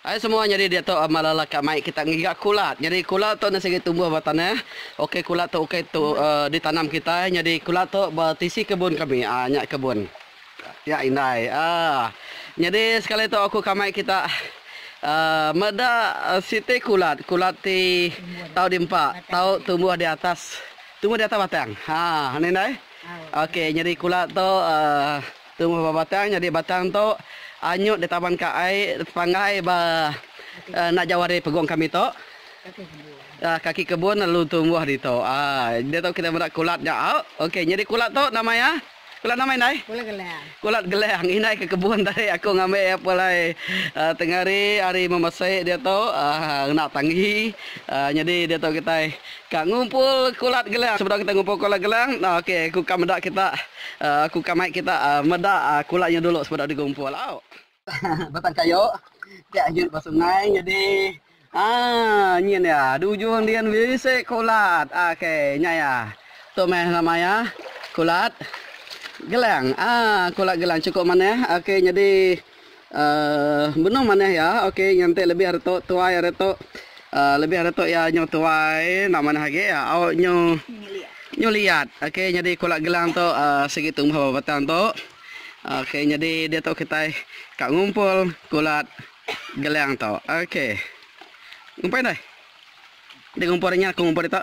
Ai semua nyadi diatu amat lala ka mai kita ngiga kulat. Nyadi kulat tu enda sigi tumbuh ba tanah. Ukai kulat tu ukai tu ditanam kitai nyadi kulat tu ba tisi kebun kami. Aa nya kebun. Nya indai. Aa nyadi sekali tu aku ka mai kita aa meda siti kulat. Kulat ti tau di empa, tau tumbuh di atas tumbuh di atas batang. Aa anu indai. Okey nyadi kulat tu aa. Tumbuh ba batang nyadi batang tu anyut ditaban ka ai panggai ba enda jauh ari pegung kami tu. Kaki kebun lalu tumbuh ditu. Ditu kitai meda kulat nya au. Okey nyadi kulat tu nama iya? Kulat nama indai? Kulat gelang. Kulat gelang indai ke kebun tadi aku ngambi iya pun alai tengah hari ari memesik ditu ngena tanggi nyadi ditu kitai Ka ngumpul kulat gelang. Sebedau kita ngumpul kulat gelang, ok, aku ka meda kita, aku ka mai kita meda kulat nya dulu sebedau digumpul. Au. Batang kayu ti agut ba sungai nyadi aa nyin iya. Di ujung din bisi kulat. Ok, nya iya. Tu meh nama iya, kulat gelang. Aa, kulat gelang chukup manah. Ok, nyadi Uhh benung manah iya ok nganti lebih ari tu tuai ari tu uhh lebih ari tu iya nyu tuai enda manah agi iya au nyu nyu liat ok nyadi kula gelang tu uhh sigi tumbuh ba batang tu ok nyadi diatu kitai ka ngumpul kulat gelang tu ok ngumpul indai di ngumpul nya aku ngumpul ditu.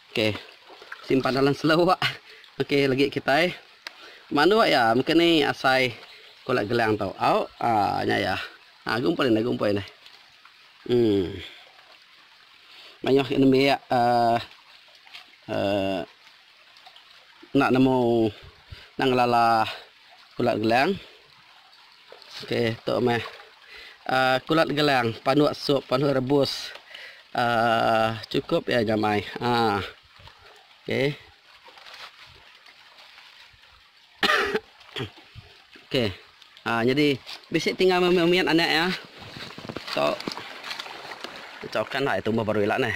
Ok simpan dalam selo wak ok lagi kitai manduk ya mungkin ni asai kulak gelang tu au aa nya ya aa gumpul indai gumpul indai um maioh gak nembiak aa aa nak nemu nak ngelala. Kulat gelang. Okey, tu meh. Uh, kulat gelang, panuk sup, panuk rebus. Uh, cukup ya nyamai. Ha. Uh. Okey. Okey. Ha, jadi bisi tinggal memian anak ya. So, caukan lah tumbuh baru ila neh.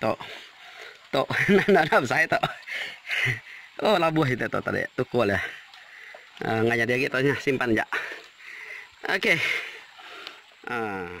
Tok. Tok. Nah, nah, nah, besai tok. Oh, labuh kita tok tadi. Tukul dia. Uh, nggak jadi lagi tok. Simpan jak. Okey. Uh.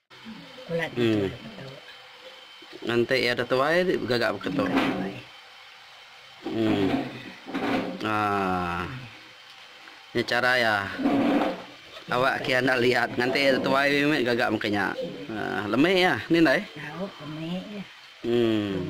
Ngan enti iya ada tuai ti begaga baka tu. Uhh. Aaa. Nya chara iya. Awak kian enda liat ngan enti iya ada tuai mih mih gaga maka nya. Uhh. Lemi iya ni ndai? Uhh.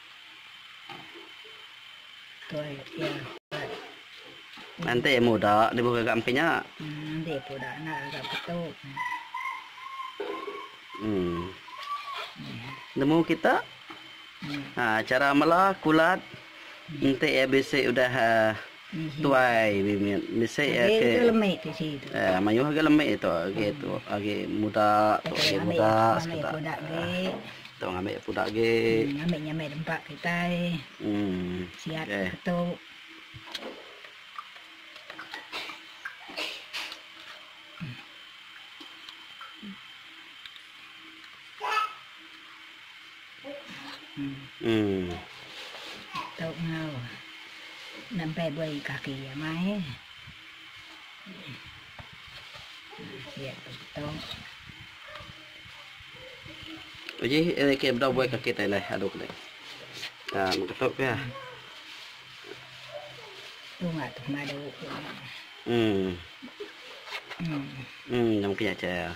Nanti amu uda lebuh gaga ampin nya. Nemu kita chara mela kulat enti bisi udah. Tuai bimit bisi agi mayuh agi lemi tu agi tu agi muda tu agi muda sekeda tu ngambi puda agi um ok. Tu enggau nempai buai kaki iya mai. Iya tu tu. Uji eh ke bedau buai kaki tai leh adu kene. Ha mega tu ke. Tu enggau tu madu. Hmm. Hmm. Hmm, nyam ke ya cha.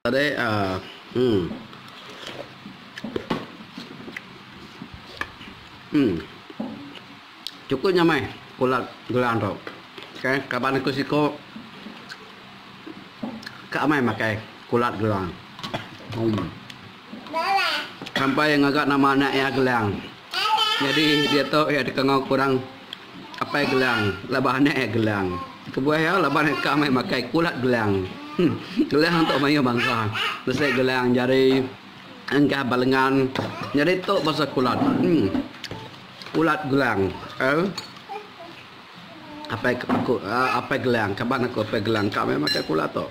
Tadi ah uhh. Uhh. Chukup nya meh ulat gelang tu. Okay, kaban aku siko ka amai makai ulat gelang. Uhh. Sampai ngaga nama anak iya gelang. Nyadi diatu iya dikangau kurang. Apai Gelang laban anak iya Gelang. Kebuah iya laban deka meh makai kulat Gelang. Gelang tu mayuh bansa. Bisi Gelang Jari, Enggah Balengan. Nyadi tu bansa kulat. Kulat Gelang. Apai aku Apai Gelang, kaban aku Apai Gelang ka meh makai kulat tu.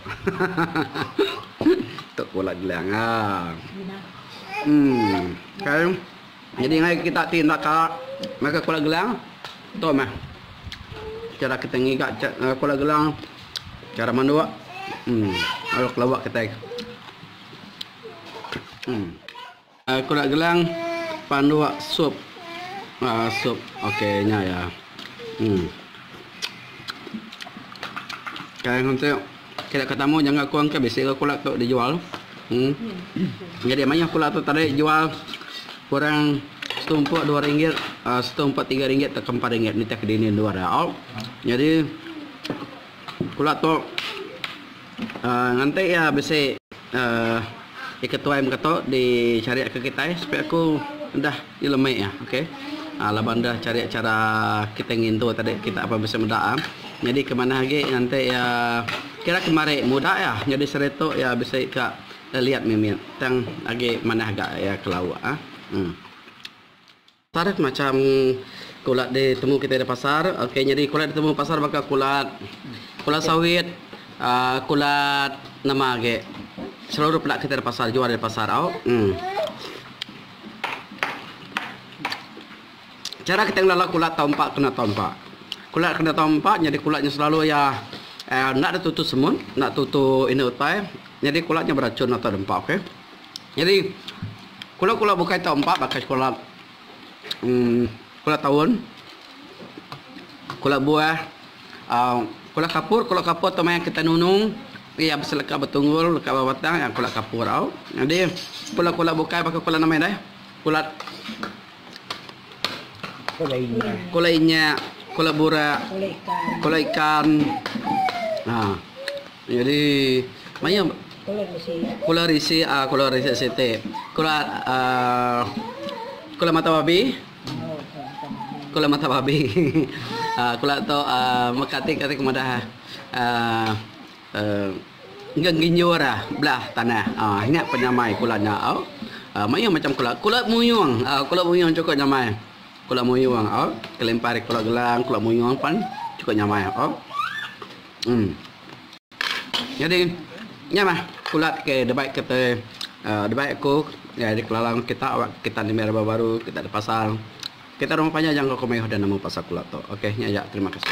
Tu kulat Gelang. Em. Kai. Nyadi ngagai kita ti enda ka ngaga Kuala Gelang tu meh chara kita ngiga ngaga Kuala Gelang chara manduk lalu kelebak kitai Kuala Gelang panduk sup sup ok nya ya. Sida ke tamu jangka kong ke bisi ga kula tu dijual. Nyadi mayuh kula tu tadi dijual kurang setumpuk dua ringgit, setumpuk tiga ringgit tauka empat ringgit nitih ke dini endur iya. Nyadi kula tu nganti iya bisi Ti ketuai mega tu dichari ke kitai sepi aku enda dilemik iya ok laban enda chari chara kitai ngintu tadi kita apai bisi meda iya nyadi ke manah agi nganti iya kira ke mari muda iya nyadi seritu iya bisi ka leliat mimit tang agi manah ga iya ke lauk a. Tarikh macam kulat ditemu kitai di pasar ok nyadi kulat ditemu di pasar baka kulat kulat sawit aaa kulat nama agi selalu peda kitai di pasar jual di pasar au emm. Chara kitai ngelala kulat tau empa kena tau empa kulat kena tau empa nyadi kulat nya selalu iya enda ada tutu semut enda tutu inu utai nyadi kulat nya berachun atu da empa ok. Nyadi kula kula bukai tau empa baka sekula kula taun kula buah aaa kula kapur kula kapur tau maya kita nunung iya beselaka betunggul leka ba batang iya kula kapur au nyadi kula kula bukai baka kula nama indah kula kula inya kula bura kula ikan aaa. Nyadi maya kula risi kula risi siti kula kula mata babi kula mata babi kula tu meka ati kati kemadah engka nginjur belah tanah nya pun nyamai kula nya mayuh macam kula kula muyung kula muyung chukup nyamai kula muyung kelimpah ari kula gelang kula muyung pan chukup nyamai. Nyadi nya mah pula ke dibai kitai uhh dibai aku ngagai ari kelala enggau kita wak kita nda mih rebak baru kita dipasang. Kita rumah panjai jangka ku mayuh udah nemu pasal pula tu. Ok nya aja terima kasih.